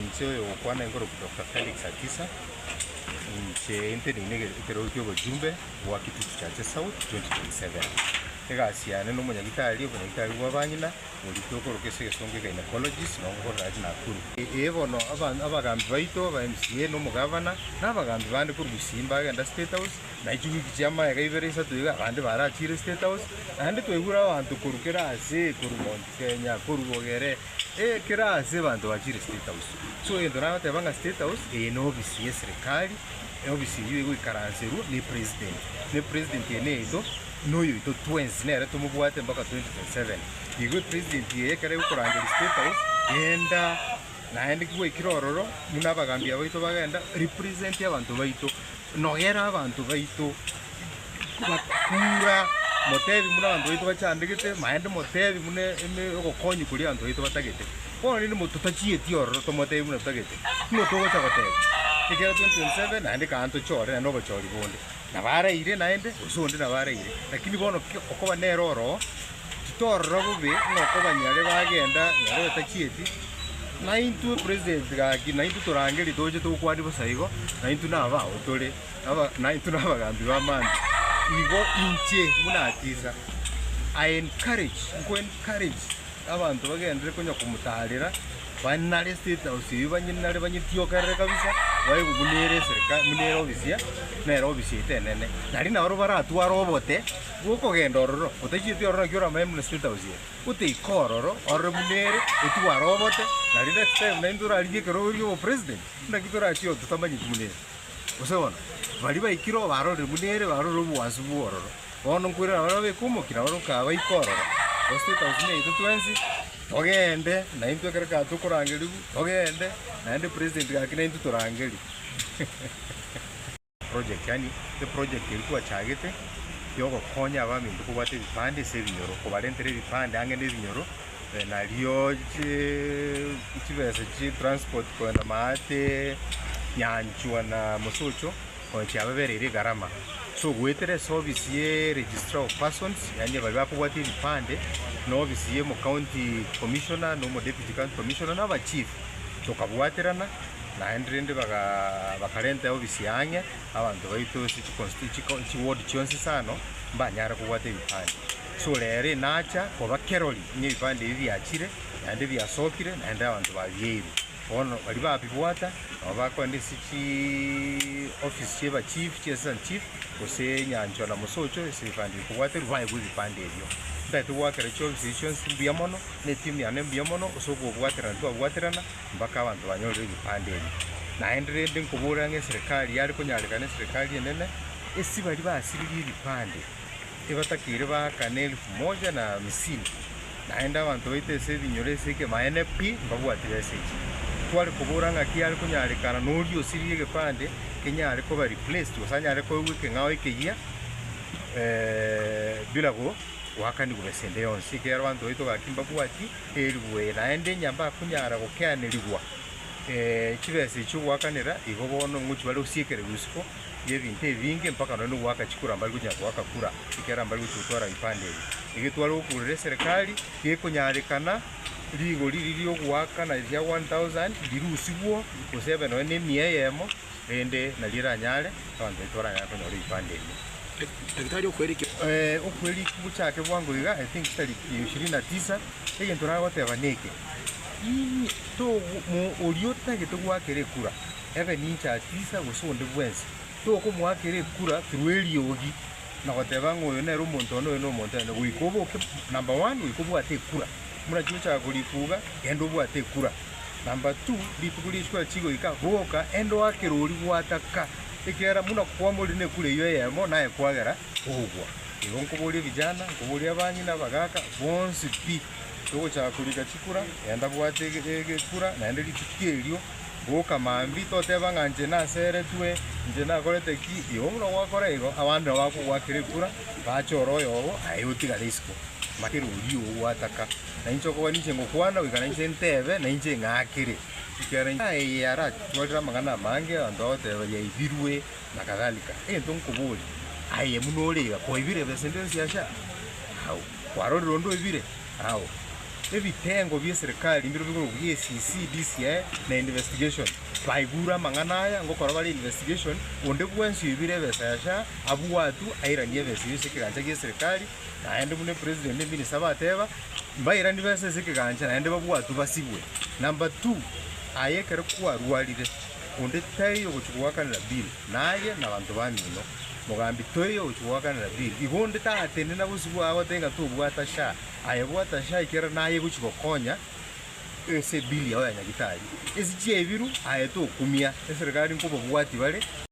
Inche oyogokwana inkoroku Doctor Felix Atisa, inche nte nine ege- ekerogo kia obochumbe bwa Kitutu Chache South 2027. Egasi yane na omonyagitari, obonyagitari bwa abang'ina, borikire okoroka ase egesongo Gynaecologist, nabo ngokorera ase Nakuru. Ee bono aban- abagambi baito, aba MCA na omogavana, na abagambi bande korwa gusii mbagenda State House, naye chiwiki chia amaega ibere isato iga abande barachire State House, naende twaigure abanto korwa kera ase, korwa Mount Kenya, korwa Bogere, Ekero aase abanto bachire State House, so egento nagoteba ng'a State House eye n'obisi y'eserekari, obisi eyio egoikaranserwa n'Epresident, na Epresident eye neyaito, na oyoito twensi nere tomobwate mpaka 2027. Igo Epresident eye ekero egokorangeria State House, genda naende ki gwaikire ororo buna abagambia baito bagenda represent abanto baito, nogere abanto baito. Tibakura, motebi buna abanto baito bachandegete, naende motebi buna ogokonya koria abanto baito batagete. Bono rende totachieti ororo tomotebi buna totagete, nigo togocha goteba, ekero 2027 naende kare tochore naende obochori bonde nabo araire naende gose onde nabo araire. Lakini bono ki okoba nere oroo, titorora bobe ng'a okobanyare bagenda nere batachieti, naintwe president gaki naintwe torangeria toche tokwanie bosa igo, naintwe nabo abao tore. naintwe nabagambi b'amang'ana, igo inche buna atiisa, I encourage, nko encourage abanto bagenderere konya komotaarera, bande nare estate house eyio banye nare banyetiokerere kabisa, babe buna ere eserikari buna ere ofisi ya nere ofisi yaito enene. Nari nabo baratware obote bw'okogenda ororo, otachieti ororo naki oramanye buna estate house eye, goteika ororo orore buna ere, otware obote, naende next time naintwe torarigie ekero oria obopresident, naki torachie oo totamanyeti buna ere. Gose bono, baria baikire obarorire buna ere barorire obogwansu bw'ororo, bono nkoirana baria babeke omokia na baria okabaika ororo, gose etausini yaito twensi, togende naintwe ekero kare tokorangerigwa, togende naende president gaki naintwe torangerigwe. Project yaani eproject eria twachagete yogokonya abaminto kobwata ebipande ase ebinyoro, kobarentera ebipande ang'e nebinyoro. Nario chibesa chi transport kogenda maate nyanchwa na mosocho onye chiababereire egarama so goetera ase office ye registrar of persons yaani baria bakobwata ebipande na office ye omo county commissioner na omo deputy county commissioner na abachief tokabwaterana naende rende bakarenta office eye ang'e abanto baito ase chiward chionsi isano mbanyare kobwata ebipande. Sore ere nacha koba kerori ng'a ebipande ebi biachire, naende biasokire, naende abanto babieirwe. Bono baria babibwata nabo bakogenda ase chiofisi chi'ebachifu chi'assistant chief, gose nyanchwa na mosocho ase ebipande ebi kobwaterwa boaye bw'ebipande ebio. Ntagete goakera chiofisi echi chionsi mbuya mono, na etimu yane mbuya mono ase okobwaterana twabwaterana mpaka abanto banyorire ebipande ebi. Naende rende nkoborera ng'a eserekari yare konyarekana eserekari enene, ase baria basiririe ebipande. Ebatakeire baaka nelifu moja na hamisini, naende abanto baito ase ebinyoro ase ekemaene pi, mbabwati besechi. Tware kobora ng'aki are konyarekana noria osirie egepande kenyare koba replaced gose anyare koegwa ekeng'ao ekeyia bila go goakanigwa besa ende yonsi, ekiagera abanto baito gaki mbabwati elifu eye, naende onye mbakonyara gokeanerigwa chibesa echio goakanera, igo bono ngochia bare osiekererwe isiko, y'ebinto ebinge mpaka nonye n'ogoaka chikura mbari gochia goaka kura ekiagera mbari gochia gotwara ebipande ebi. Egetwaro gokurera eserekari gekonyarekana rigori riri ri'ogoaka na ria 1000 rirusigwo gose ebe nonye n'emia eyemo rende nario eranyare abanto baito baranyare konyora ebipande ebi. Daktari okwerikigwa. Eh, okwerikigwa gochake bwango iga, I think tariki ya ishirini na tisa, egento nagoteba neke, Imi, togo, mo, oria otagete goakera ekura, Ebe ninche atisa, gose onde bwensi, tokomoakera ekura through eriogi, na goteba ng'a oyo nere omonto one, oyo nomonto one, goika oboke number one, goika obwate ekura. Buna chiochaka korifuga, genda obwate ekura. Number two, rituko ri'echikura chigoika, boka enda oakere oria gwataka, ekiagera buna kwamorire nekura eyio eyemo, naye kwagera kogwa. Igo nkoboria vijana, nkoboria abang'ina, abagaka, bonsi pi, togochaka korika chikura, genda bwate ekura, naende rituko erio. Boka mambia toteba ng'a inche naseretwe, inche nakorete ki? Igo buna gwakora igo, abande nabo bakogoakera ekura, bache ore oyogo, aye otigare isiko. Maki kera oria oo gwataka, na inche okoba ninche ngokwana, goika na inche ntebe, na inche ng'akere. Ekiagera inche naye eye aratwarire amang'ana amange, abanto bagoteba, Yaibirwe, na kadhalika. Egento nkoborie, aye buna ore iga, koibire ebesa eria yonsi asha? Au, kwarorire onde oibire? Ao, ebitengo bi'eserikari mbirobio bigokora EACC, DCI, na Investigation baigure amang'ana aya, ngokora bare Investigation, onde bwensi oibire ebesa ya SHA abwatwe airanie ebesa eyio ase ekegancha gi'eserikari, naende buna President na Minister bateba, mbairani besa ase ekegancha naende babwatwe basibwe. Number two, aye ekero kwarwarire, onde taiyo ogochia goakanera bill. Naye nabanto bamino, mogambi, toiyo gochia goakanera Bill, igo onde taatende na bosio bwao goteba ng'a tobwata sha. Aye bwata sha ekiagera naye egochia gokonya ense Bill yao ya Nyagitari. Ense chiaebiru, aye tokumia eserekari nkobabwati bare.